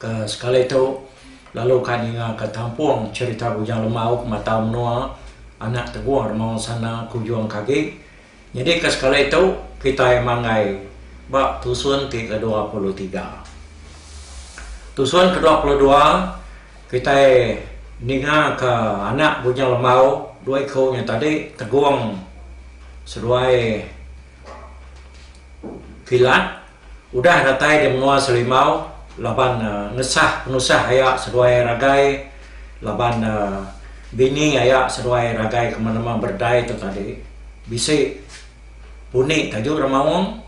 Ke sekali tu, lalu ka ninga ke tampung cherita Bujang Lemau ke matau menua anak tegung rema ensana ke ujung ke agi. Nyadi ke sekali tu, kitai manggai ba tusun ti ke dua puluh tiga. Tusun ke dua puluh dua, kitai ninga ke anak Bujang Lemau dua iku nya tadi tegung seduai kilat. Udah datai di menua Serimbau laban ngesah penusah aya seduai ragai laban bini aya seduai ragai ke menema berdai tu tadi bisi puni tajuk remaung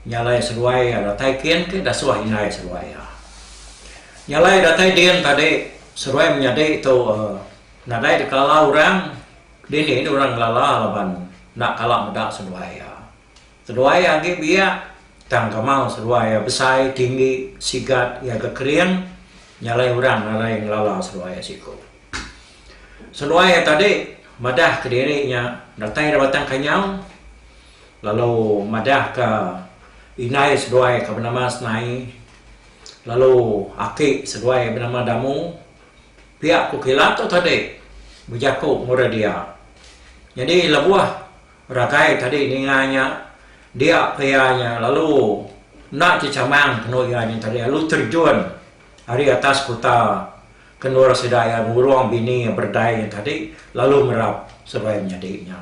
nyalai seduai iya datai kin ke dasuh indai seduai iya. Nyalai datai din tadi seduai menyadi tu nadai dikala orang dini ne orang ngelala laban enda kala meda seduai iya. Seduai iya agi biak, tang kamau seduai iya besai, tinggi, sigat, iya ke kering, nyalai orang alai ngelala seduai iya siku. Seduai iya tadi madah ke diri nya datai dari batang kanyau lalu madah ke indai seduai ke benama Senai lalu aki seduai iya benama Damu. Piak ku kila tu tadi bejaku murih dia. Nyadi lebuh. Rakai tadi ninga nya dia pia nya lalu enda ti chamang penu iya nya tadi lalu terjun ari atas kuta ke endur sida iya ngurung bini iya berdai nya tadi lalu merap seduai menyadi nya.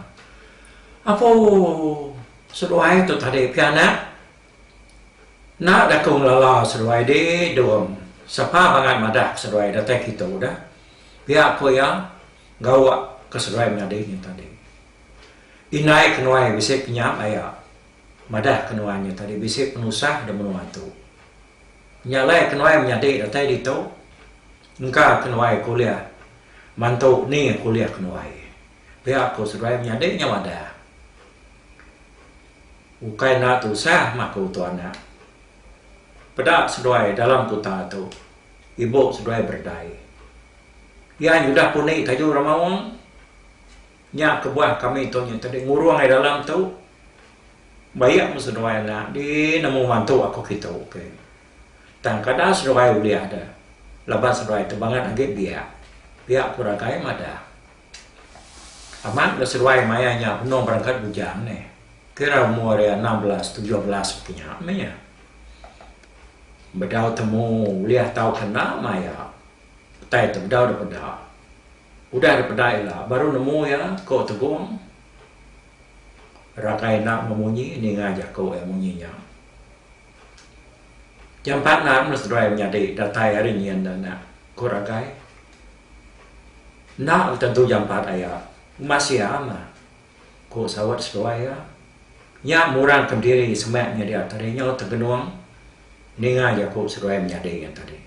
Apo seduai tu tadi pia anak enda ga ku ngelala seduai di dong sapa bangat madah ke seduai datai kitu dah pia ku iya gawa ke seduai menyadi nya tadi. Indai ke nuai bisi penyam aya. Madah ke nuai nya tadi bisi penusah da menua tu. Nyalai ke nuai menyadi datai ditu. Engka ke nuai kuliah mantu ni kuliah ke nuai. Pia ku seduai menyadi nya madah. Ukai enda tusah mah ku tu anak. Peda seduai dalam kuta tu ibu seduai beredai. Iya nyudah puni tayu Ramaung. Nya kebuah kami tu nya tadi ngurung ai dalam tu bayak meh seduai anak di nemu mantu aku kitu ke tang kada seduai ulih de laban seduai tu bangat agi biak biak ku ragai madah amat le seduai maya nya benung berengkat bujang neh kira umur iya enam belas tujuh belas baka nya meh iya bedau temu ulih tau kena maya. Petai tu bedau da peda. Udah da peda ila baru nemu iya, ko Tegong. Rakai enda enggau munyi ninga jako iya munyi nya. Jampat nan meh seduai menyadi datai ari nyin da enda, ko Rakai. Enda tentu jampat aya. Uma sia meh. ku Sawat seduai iya. Nya murangka diri semak nyadi tadi nyau tegenung ninga jaku seduai menyadi nya tadi.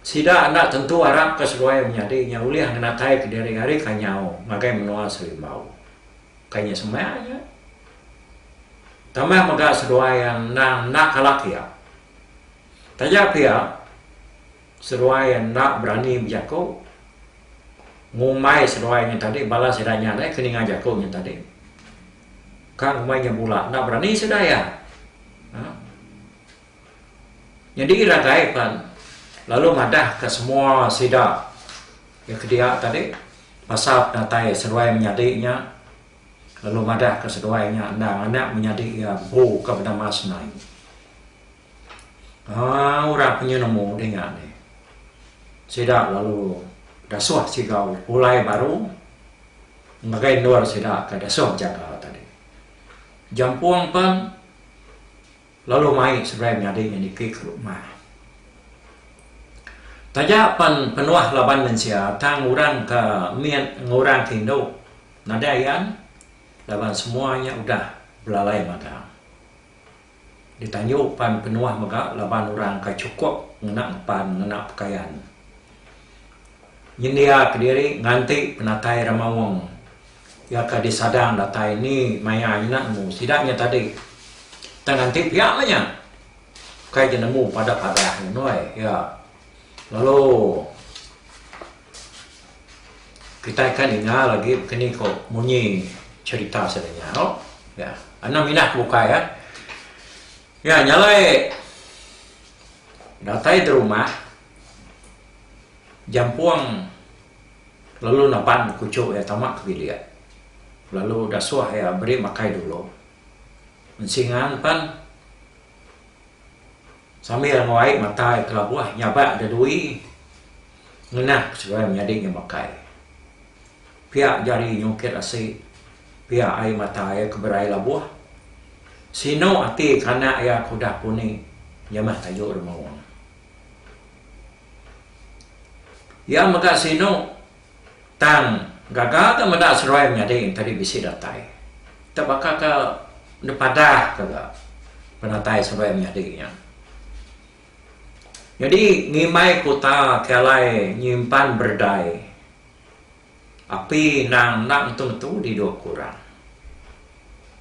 Sida enda tentu arapka seduai menyadi nya ulih ngenataika diri ari ka nyau ngagai menua Serimbau. Kai nya semak nya. Tambah mega seduai iya endang enda kala kiap. Taja pia. Seruai enda berani bejako. Ngumbai seruai nya tadi bala sida nya alai ke ninga jako nya tadi. Ka ngumbai nya bula enda berani sida iya. Haa. Nyadi ragai pan lalu madahka semua sida iya ke dia tadi pasal penatai seruai menyadi nya lalu madahka seruai nya enda nganak menyadi iya empu ka benama senang. Haa orang penyu nemu dinga ni. Sida lalu dasuh sigau ulai baru ngagai endur sida ke dasuh jaga tadi. Jampung pen lalu mai seberai nyadi nya niki ke rumah. Taja pen penuh laban mensia tang orang ke mit enggau orang ke indu nadai iya laban semua nya udah belalai magang. Ditanju pan penuah mega laban orang ka chukup ngena empan ngena pekayan. Nyendia kediri nganti penatai ramaung iya ka disadang datai ni maya nyena nemu sida nya tadi. Tang nganti pia meh nya kai ke nemu pada padah ngenoi iya lalu. Kitai ka ninga lagi keni ko munyi cherita sida nya ho. Ya. Anang minah ke bukai ya. Ya nyalai datai te rumah jampung lalu naban kuchuk iya tama ke bilik lalu dasuh iya beri makai dulu. Ensingan pan. Sambil nguai mata iya kelabuh nyabak da dui ngenah ke seduai menyadi nya bakai. Pia jari nyungkit asi, pia ai mata iya ke berai labuh. Sinu ati ke anak iya ke udah puni nyamah tayu da maung. Iya mega sinu. Tang gaga ga meda seruai menyadi tadi bisi datai. Te baka ka nepadah ka ga penatai seruai menyadi nya. Nyadi ngimbai kuta ti alai nyimpan berdai api nang enda ngetu ngetu didu aku orang.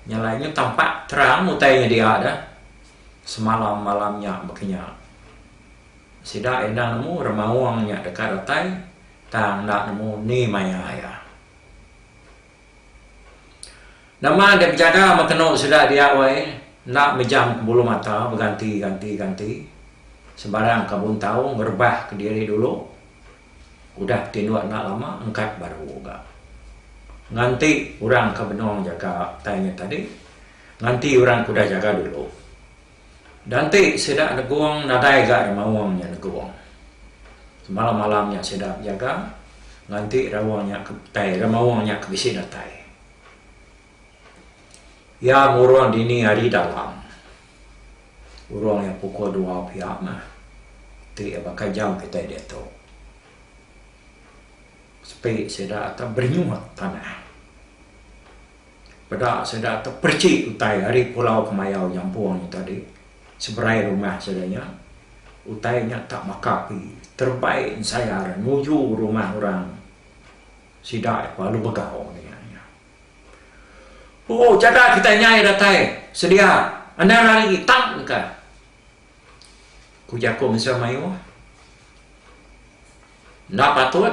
Nya alai nyu tampak terang utai nyedia da semalam malam nya baka nya. Sida enda nemu remaung nya deka datai tang enda nemu ni maya iya. Nama enti bejaga meh kenu sida dia wai enda mejam ke bulu mata beganti ganti ganti sembarang ka buntau ngerebah ke diri dulu udah betinduk enda lama engkat baru ga. Nganti orang ke benung jaga tai nya tadi nganti orang ke udah jaga dulu. Danti sida negung nadai ga remaung nya negung. Semalam-malam nya sida bejaga nganti raung nya ke tai remaung nya ke bisi datai. Iya murun dini hari dalam. Urung iya pukul dua pia mah. Ti iya baka jam kitai diatu. Sepi sida akan berenyut tanah. Peda sida tu perchi utai ari pulau kemayau nyampung nya tadi, seberai rumah sida nya. Utai nya tak baka api, terebai ensayar nuju rumah orang sida nya lalu begau ninga nya. Ooh, jaga kitai nyai datai sedia, endang ari tang ka. Ku jaku mensia mayuh, Enda patut,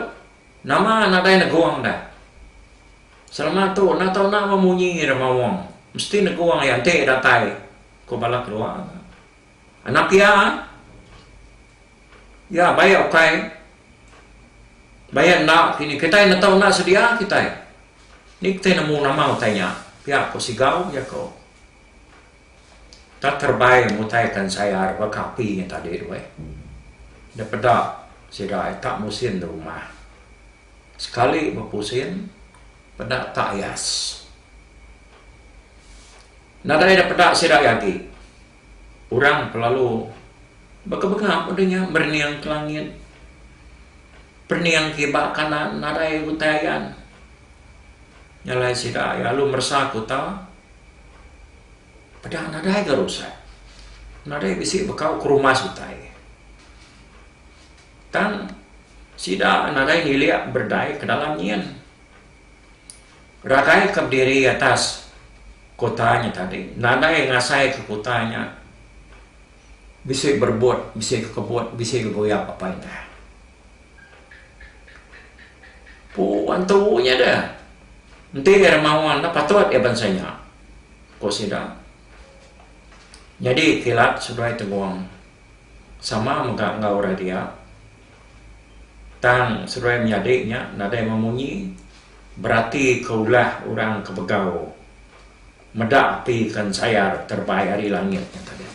nama nadai negung da. Selama tu enda tau enda meh munyi da maung, mesti negung iya enti datai, ku bala kedua. Anak iya, iya baik ukai, baik enda kini kitai enda tau enda sedia kitai. Ni kitai nemu nama utai nya? pia ku Sigau, jaku. Enda terebai mutai kan sayar baka api nya tadi tu eh. Enda peda sida ai tak musin di rumah. Sekali bepusin peda tak ias. Nadai ida peda sida ai agi. Orang pe lalu baka bengap udah nya berening ke langit. Perening ke iba kanan nadai utai ayan. Nya alai sida ai lalu meresa ke uta. Peda nadai ga rusak. Nadai bisi bekau ke rumas utai. Tang sida nadai ngilik berdai ke dalam nyin. Ragai ke bediri atas kota nya tadi nadai ngasai ke kota nya bisi berebut, bisi kekebut, bisi gegoyap apai indah. Ku antu nya deh, enti iya mawan dah patut iya bansa nya, ku sida. Nyadi kilat seduai tenggung sama mega enggau orang dia tang seduai menyadi nya nadai memunyi beratika ulah orang ke begau meda api ke ensayar terebai ari langit nya tadi.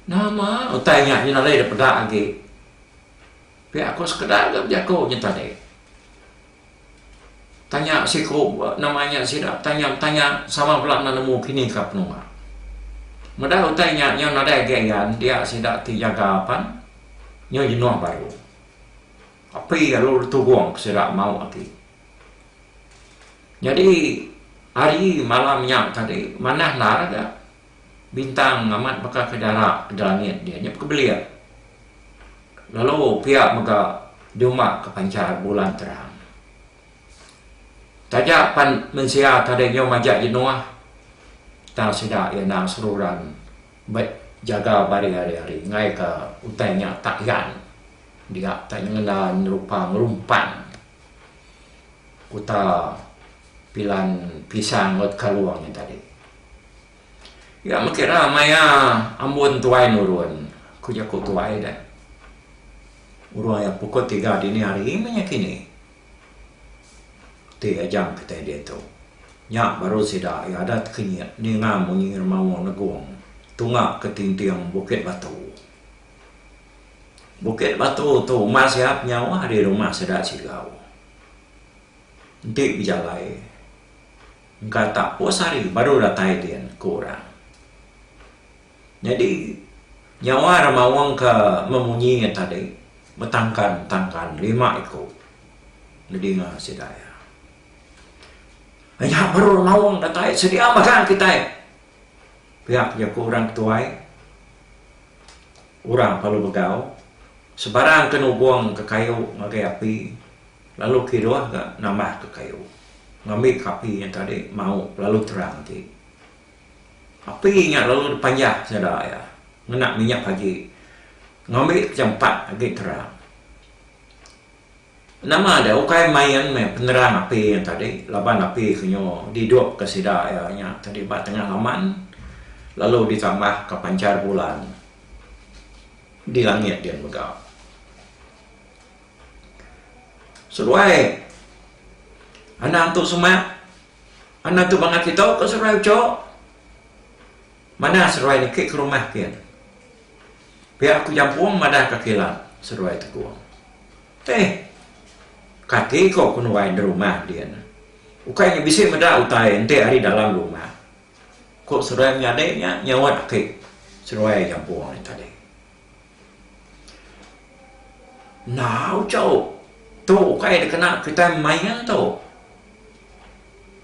Nama utai nya nyinal diri peda agi? Pia aku sekeda ga bejaku nya tadi. Tanya siku nama nya sida betanya betanya sama bala enda nemu kini ka penua. Meda utai nya nyau nadai agi ayan dia sida ti jaga pan nyau jenuh baru. Api lalu ditugong ke sida mau agi. Nyadi hari malam nya tadi manah endar ga. Bintang amat baka ke dara da langit dia nyep ke belik. Lalu pia mega duma ke panchar bulan terang. Taja pan mensia ke adeh nyau majak jenuh tang sida iya enda seruran be jaga bari hari-hari ngaika utai nya tak gan dia tak nyengenda nyerupa ngerumpan. kuta Pilan Pisang Lot Kalong nya tadi. Iya mega ra maya ambun tuai nurun ku jaku tuai deh. Urung iya pukul tiga dini hari meh nya kini ti ajang kitai diatu. Nya baru sida iya adat kinyit ninga munyi ngeremau negong tunga ke tinting Bukit Batu. Bukit Batu tu uma sia penyawa ari rumah sida Chigau. Enti bejalai engka tak pus hari baru datai din ku orang. Nyadi nyawa rak maung ke memunyi iya tadi betangkan-tangkan lima iku nedinga sida iya. Nya baru maung datai sedia mega kitai. Pia pia ku orang ke tuai, orang palu begau sebarang ke nubung ke kayu ngagai api lalu kiruh ga nambah ke kayu ngambi ke api nya tadi mau lalu terang ti. Api nya lalu dipanjah seda iya ngena minyak pagi ngambi ke jampat agi terang. Nama deh ukai main meh penerang api nya tadi laban api ke nyu didupka sida iya nya tadi ba tengah laman lalu ditambahka panchar bulan di langit dian mega. Seduai anang tu semak anang tu bangah kitu ke seduai uchu manah seduai niki ke rumah kian. Pia aku Jampung madah ka kilang seduai Tekong. Teh. Kati ko ku nuai enda rumah dia nya. Ukai nya bisi meda utai enti ari dalam rumah. Ko seduai menyadi nya nyaut aki seduai Jampung nya tadi. Enda uchu. Tu ukai dikena kitai main tu.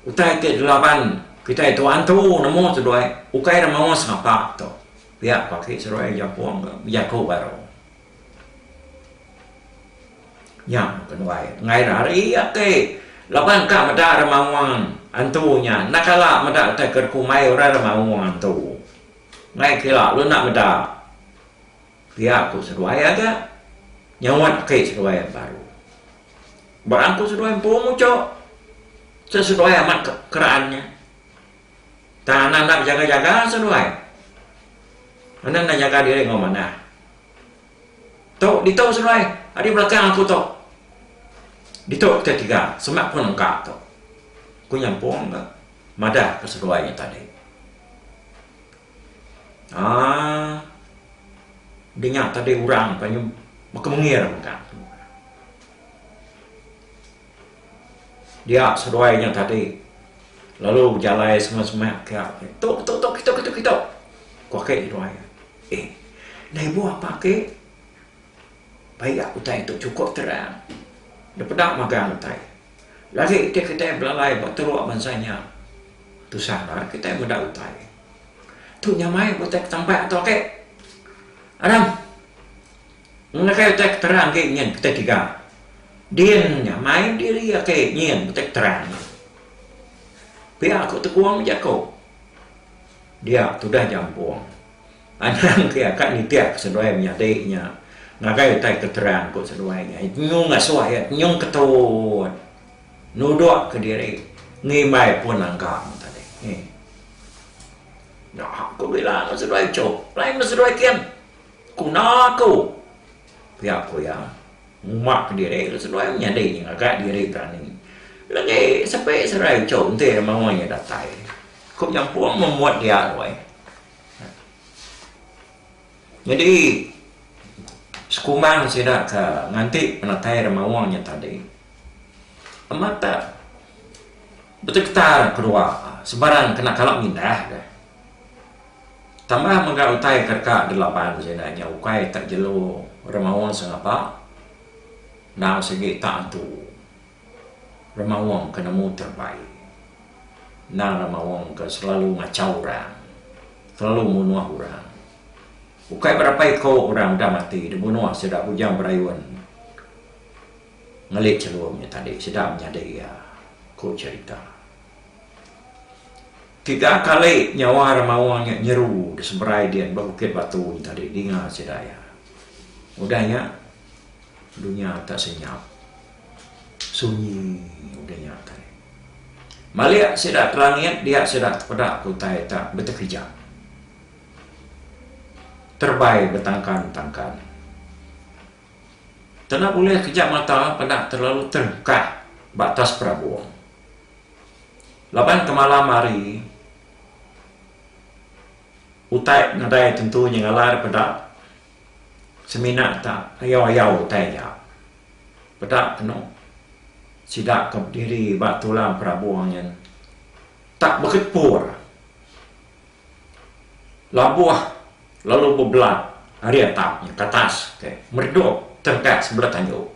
Utai ti dilaban kitai tuan tu nemu seduai ukai ra maoh sapa tu. Pia paki seruai japung ke bejaku baru. Nya ke nuai enggai ira ari ake laban ka meda ira maung antu nya enda kala meda utai ke dikumbai orang ira maung antu. Enggai kira lu enda meda. Pia ku seduai aga nyaut ake seduai baru. Ba aku seduai empu muchok. Seduai amat keraan nya. Tang anak enda bejaga-jaga seduai. Anak enda nyaga diri enggau manah. Tu ditu seduai, ari belakang aku tu. Ditu kitai tiga semak pun engka tu. Ku nyampung ka madahka seduai nya tadi. Aaa dinga tadi orang panju baka mengir mega. Dia seduai nya tadi lalu bejalai semak-semak ke ati. Tu, tu, tu, kitu, kitu, kitu. Ku aki seduai iya. Eh, enda ibuh apa aki. Paiak utai tu chukup terang. Enda peda magang utai. Lagi iti kitai belalai ba teruk bansa nya, tusah enda ari kitai meda utai. Tu nyamai utai Ketambak tu aki. Anang. Ngagai utai ke terang agi nyin keti tiga. Din nya mai diri agi nyin utai ke terang nya. Pia ku Tegong bejaku. Dia tudah jampung. Anang ke iya ka nitihka seduai menyadi nya ngagai utai ke terang ku seduai nya. Iya tenyung ngasuh iya tenyung ketut nudukka diri ngimbai pun langgang tadi. Nya ku Bila enggau seduai Chok lain meh seduai Ken. Ku na aku. Pia ku iya, ngumak diri lalu seduai menyadi nya ngagai diri berani. Legi sepi serai ichau enti ari menua nya datai. Ku nyampung membuat dia alai. Nyadi sekumbang sida ke nganti penatai ari menua nya tadi amat da betegetar keduwa sebarang kena kala mindah ka. Tambah mega utai ke deka delaban sida nya ukai tak jelu remaung sengapa enggau sigi tak entu remaung ke nemu terbaik endang remaung ke selalu ngachau orang, selalu munuh orang. Ukai berapai ko orang udah mati dibunuh sida bujang berayun ngelit chelum nya tadi sida menyadi iya, ku cherita. Tiga kali nyawa orang Mawang nya nyeru diseberai din ba Bukit Batu nya tadi dinga sida iya. Udah nya dunya tak senyap. Sunyi udah nya tadi. Malik sida ke langit dia sida tepeda ke utai tak betekejap. Terbai betangkan-tangkan. Tena bulih kejap mata peda terlalu terengkah ba atas perabung. Laban kemalam hari, utai nadai tentu nya ngalar peda semina ta ayau-ayau utai nya. Peda penu sida ke bediri ba tulang perabung nyen ta beketpur labuh lalu bebelat ari atap nya ke atas, meredup terengkas bela tandu.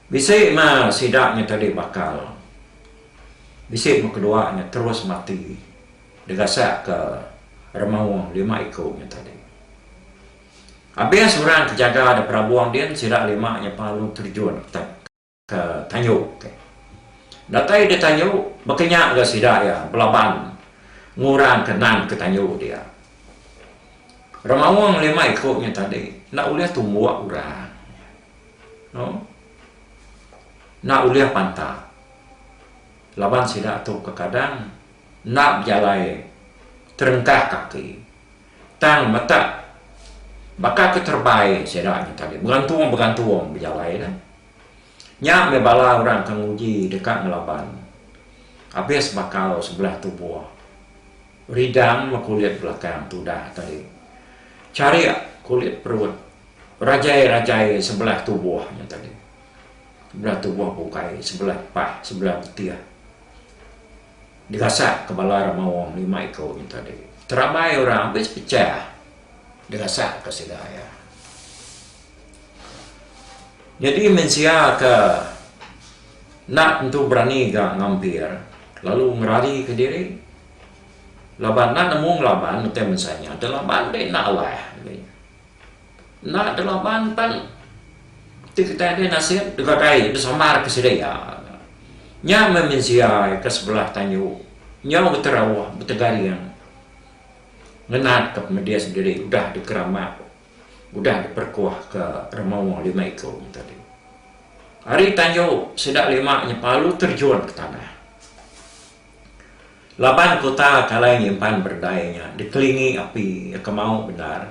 Bisi ma sida nya tadi bakal. Bisi ma kedua nya terus mati digasak ke remaung lima iku nya tadi. Abis orang ke jaga da perabung din sida lima nya pa lalu terjun ke tanyu ti. Datai di tanyu baka nya ga sida iya belaban ngurang ke nan ke tanyu dia. Remaung lima iku nya tadi enda ulih tumbuk urang. No. Enda ulih panta. Laban sida tu kekadang enda bejalai terengkah kaki. Tang metak baka ke terebai sida nya tadi begantung-begantung bejalai nya. Nya meh bala orang ke nguji deka ngelaban abis bakal sebelah tubuh ridang meh kulit belakang tudah tadi. Charik kulit perut. Rajai-rajai sebelah tubuh nya tadi. Sebelah tubuh bukai, sebelah pah, sebelah betih. Digasak ke bala remaung lima iku nya tadi. Terambai orang bisi pechah digasak ke sida iya. Nyadi mensia ke enda tentu berani ga ngampir lalu ngerari ke diri laban enda nemu ngelaban utai mensia nya. Telaban deh enda alah. Enda ada laban pan ti kitai agi nasit deka dai besambar ke sida iya. Nya meh mensia ke sebelah tanyu nyau beterauh betegaring ngenat ke pemedih sendiri udah dikeramat udah diperekuh ke remawa lima iku tadi. Ari tanyu sida lima nya palu terjun ke tanah. Laban kuta Kalai nyimpan berdai nya dikelingi api kemau bendar,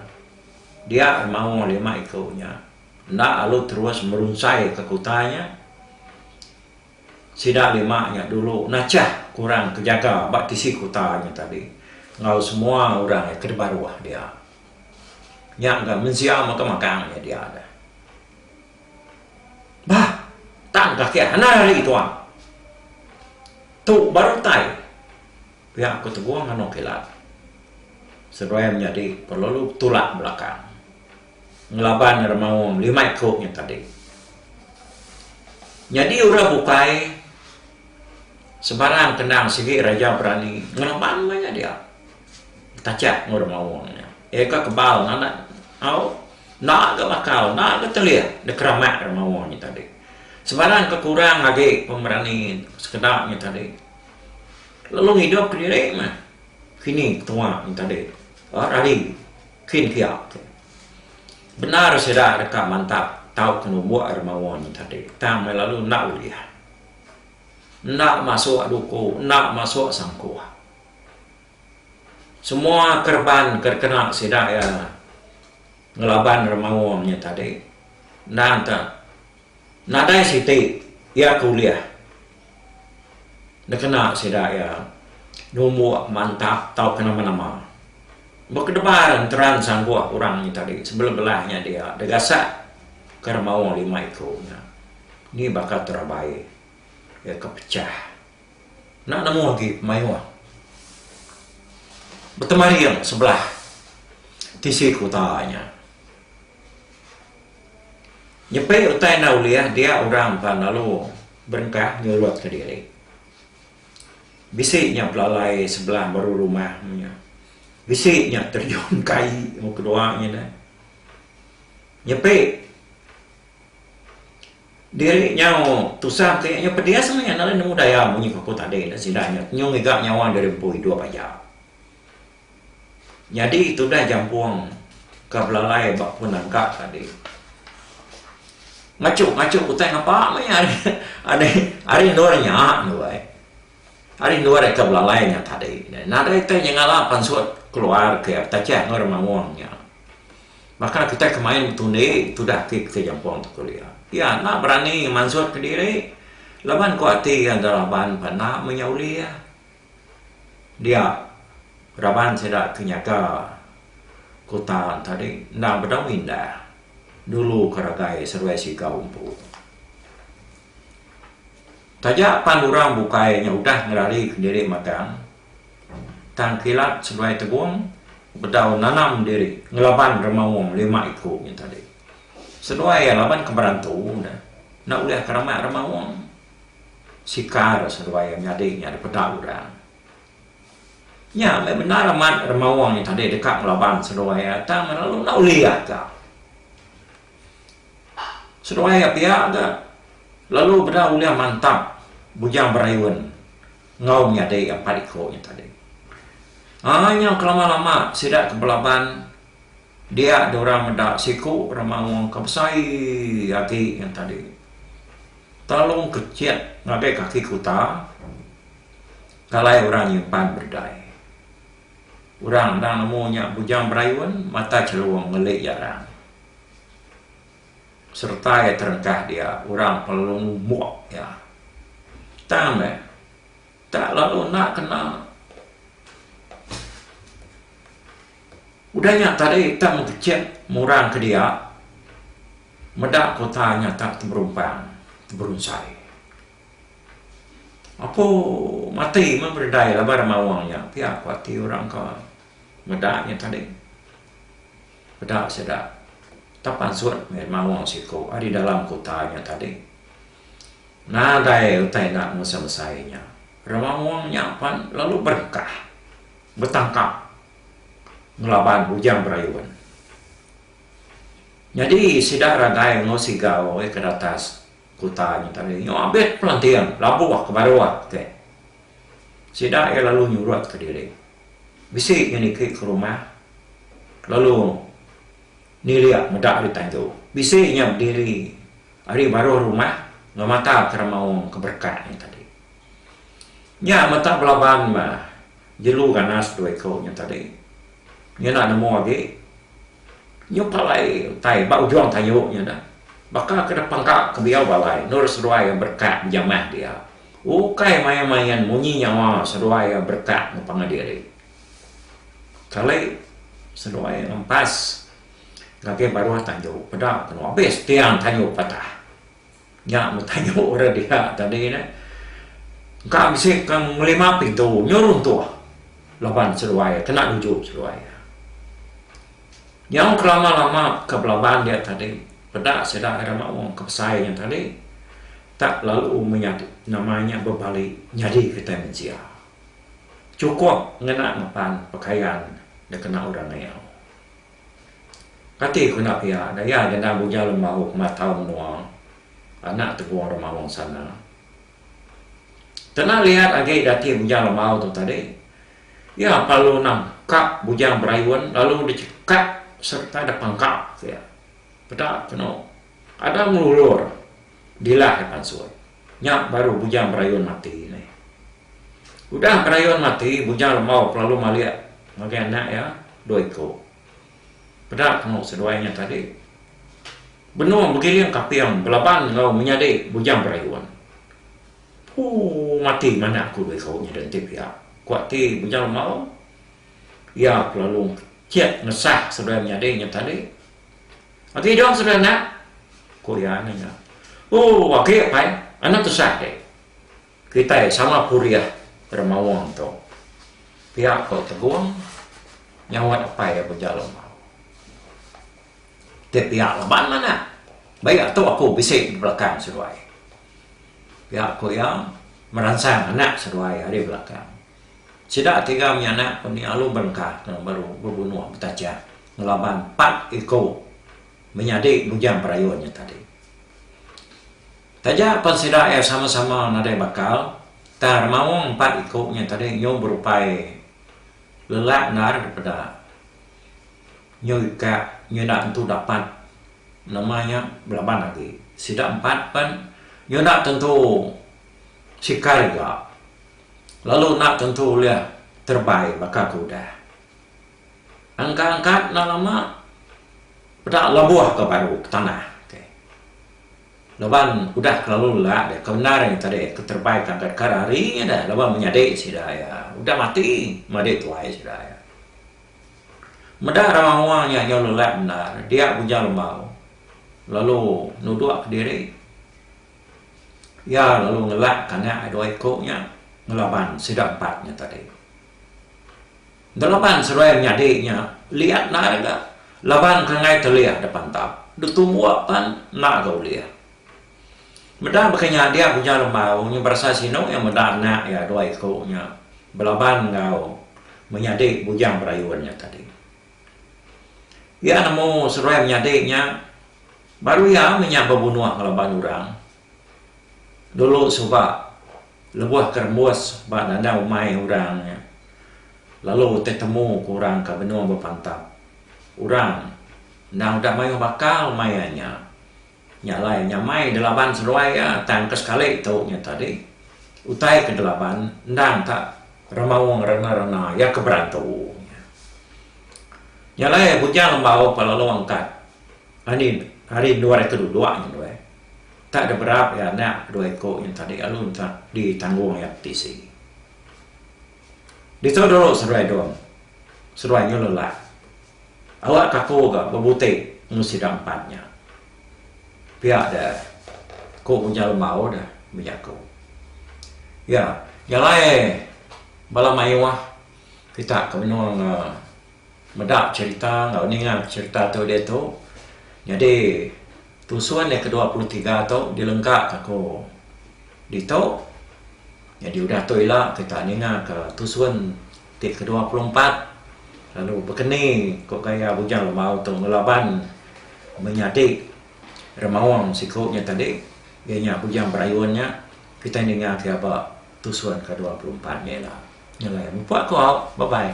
dia remaoh lima iku nya enda lalu terus merunsai ke kuta nya. Sida lima nya dulu nachah ke orang ke jaga ba tisi kuta nya tadi enggau semua orang ke dibaruh dia. Nya ga mensia mega magang nya dia. Bah, tang ka kiah anai ari ituan. Tu baru utai pia ku Tegong anok kilat. Seduai menyadi ko lalu betulak belakang ngelaban ira maong lima iko nya tadi. Nyadi orang bukai sebarang kendang sigi raja berani ngelaban maya dia. Kachap enggau demaung nya. Eka kebal ngamat au enda ga bakal enda ga telih dikeramak demaung nya tadi. Sebarang ke kurang agi pemerani sekeda nya tadi lalu ngidup kediri meh kini ketua nya tadi ba rali kin pia tu. Bendar sida deka mantap tauka numbuk demaung nya tadi tang meh lalu enda ulih. Enda masuk duku enda masuk sangkuh. Semua kereban ke dikena sida iya ngelaban remaung nya tadi endang ka nadai siti iya ke ulih dikena sida iya numbuk mantap tau ke nama-nama. Ba kedebar enteran sangguh orang nya tadi sebelum belah nya dia degasak ke remaung lima iku nya ni baka terabai iya ke pecah. Enda nemu agi pemayuh betemaring sebelah tisi kuta nya. Nyepi utai enda ulih dia orang pan lalu berengkah nyurutka diri. Bisi nya belalai sebelah baru rumah nya. Bisi nya terjun kai muka dua nya dah. Nyepi Diri nyau tusah ti nyau pedis meh lalu nemu daya munyi ke aku tadi nya sida nya nyau ngiga nyawa diri empu idup aja. Nyadi tudah jampung ke belalai ba pun langka tadi. Machu machu utai ngapa meh iya ari ari endur nya andu ai. Ari endur aka belalai nya tadi nadai itai nyengala pansut keluar ke Tachie enggau Remaung nya. Baka kitai ke main betundi tudah ati kitai jampung tu keli iya. Iya enda berani ngemansut ke diri laban ku ati iya enda raban pan enda menya uli iya. Dia raban sida ke nyaga kutan tadi enda bedau indah dulu ke ragai seduai sigau empu. Taja pan orang bukai nya udah ngerarika diri magang. Tang Kilat seduai Tebong bedau nanam diri ngelaban remaung lima iku nya tadi. Seduai iya laban ke berantu ne enda ulih ke ramak remaung. Sikar seduai iya nyadi nya dipeda orang. Nya meh bendar amat remaung nya tadi deka ngelaban seduai iya tang ne lalu enda ulih iya ka. Seduai iya pia ga lalu beda ulih mantap Bujang Berayun. Enggau nyadi empat iku nya tadi. Ai nyau kelama-lama sida ke belaban dia diorang meda siku remaung ke besai agi nya tadi. Telung kecit ngagai kaki kuta kalai orang nyimpan bedai. Orang endang nemu nya bujang berayun mata chelung ngeli jarang. sereta iya terentah dia orang perlu ngumuk iya. Tang meh, tak lalu enda kena. Udah nya tadi kita mengkecek mung orang ke dia meda kota nyatak teberumpang, teberunsai. Apo mati meh bededai laban maung nya pia ku ati orang ke meda nya tadi. Peda sida tang pansut meh maong siko ari dalam kuta nya tadi. Nadai utai enda ngusa besai nya. Remaong nya pan lalu berengkah betangkap ngelaban bujang berayun. Nyadi sida ragai enggau siga wei ke datas kuta nya tadi nyu abit pelanting labuh ke baruh ke. Sida iya lalu nyurut ke diri. Bisi nya niki ke rumah lalu nilik meda ari tandu. Bisi nya bediri ari baruh rumah ngemata kera maung ke berekat nya tadi. Nya meta belaban mah jelu ganas dua iku nya tadi. Nyena nemu agi nyup alai utai ba ujung kayu nya dah. Baka ke dep pangka ke biau balai endur seduai berekat bejamah dia. Ukai main-main munyi nyawa seduai iya berekat enggau pangan diri. Kali seduai iya ngempas ngagai baruh tanju peda temu abis tiang tanju patah. Nya meh tanju orang diha tadi nih. Engka bisi ke ngelima pintu nyu runtuh laban seduai iya kena nuju seduai iya. Nyau kelama-lama ke belaban dia tadi peda sida ari maong ke besai nya tadi Tak lalu menyadi nama nya bebali nyadi kitai mensia. Chukup ngena ngepan pekayan dikena orang ngayau. Kati ku enda pia daya genda buja lembau kemat tau menua anak tegung remaung sana. Kena liat agi dati buja lembau tu tadi, iya pelalu nang ka bujang berayun lalu dichekap sereta dipangka pia. Peda kenu ada ngelulur. Dilah ai pansut. Nya baru bujang berayun mati neh. Udah berayun mati, bujang lembau ke lalu malik ngagai anak iya dua iku. Peda temu seduai nya tadi. Benung begiling kaping belaban enggau menyadi bujang berayun. Puu mati manah aku dua iku nyadi enti pia, ku ati bujang lembau. Iya ke lalu chek ngesah seduai menyadi nya tadi. Agi dong sida anak? Ku iya nanya. Oh, agi pai. Anak Tusah deh. Kitai sama purih ira maung tu. Pia ko Tebong nyaut apai iya beja lema. Ti pia laban anak. Baik atu aku bisi di belakang seduai. Pia ko iya meransang anak seduai ari belakang. Sida tiga menyanak ku Nia Alu Berengka tang baru bebunuh betachah ngelaban empat iku menyadi bujang perayun nya tadi. Taja pan sida iya sama-sama nadai bakal, tang remaung empat iku nya tadi nyu berupai lelak endar daripada nyu ika nyu enda tentu dapat nama nya belaban agi. Sida empat pan nyu enda tentu sikar iga. lalu enda tentu ulih terebai baka ke udah. Angkat-angkat enda lama peda labuh ke baru ke tanah ti. Laban udah kelalu lelak deh ke bendar nya tadi ke terebai ke angkat kar hari nya deh laban menyadi sida iya udah mati madi tuai sida iya. Meda raun awang nya nyau lelak bendar dia Bujang Lembau lalu nuduk kediri. Iya lalu ngelak kanak ai dua iku nya ngelaban sida empat nya tadi. Ngelaban seruai nyadi nya liat nai ga laban kangai telih da pantap. Da tumbuk pan enda ga ulih. Meda baka nya dia Ujar Lembau nya berasai sinu iya meda anak iya dua iku nya belaban enggau menyadi Bujang Berayun nya tadi. Iya nemu seruai menyadi nya baru iya meh nya bebunuh ngelaban orang. Dulu suba lebuh ke rembus ba dadah umai orang nya lalu ti temu ku orang ka benung bepantap. Orang endang udah mayuh bakal maya nya. Nya alai nyamai delaban seduai iya tang ke sekali tu nya tadi utai ke delaban endang ka remaung rena-rena iya ke berantu nya. Nya alai Bujang Lembau pa lalu angkat anih ari endur iya ke duduk nya tu eh tak ada berap iya anak ke dua iku nya tadi lalu enta ditanggung iya ke tisi. Ditu dulu seduai Don seduai Nyululak. Awak Tako ga bebuti enggau sida empat nya. Pia da, ku Unyal Lembau da bejaku. Ya, nya alai bala mayuh kita ke menua ga meda cherita enggau ninga cherita tu diatu. Nyadi Tusun iya kedua puluh tiga tu dilengkaka aku ditu nyadi udah tu ila kita ninga ka tusun ti kedua puluh empat lalu bekeni ku gaya Bujang Lemau tu ngelaban menyadi remaung siku nya tadi iya nya Bujang Berayun nya kitai ninga pia ba tusun ke dua puluh empat nya ila. Nyelai mepu aku au. Bye bye.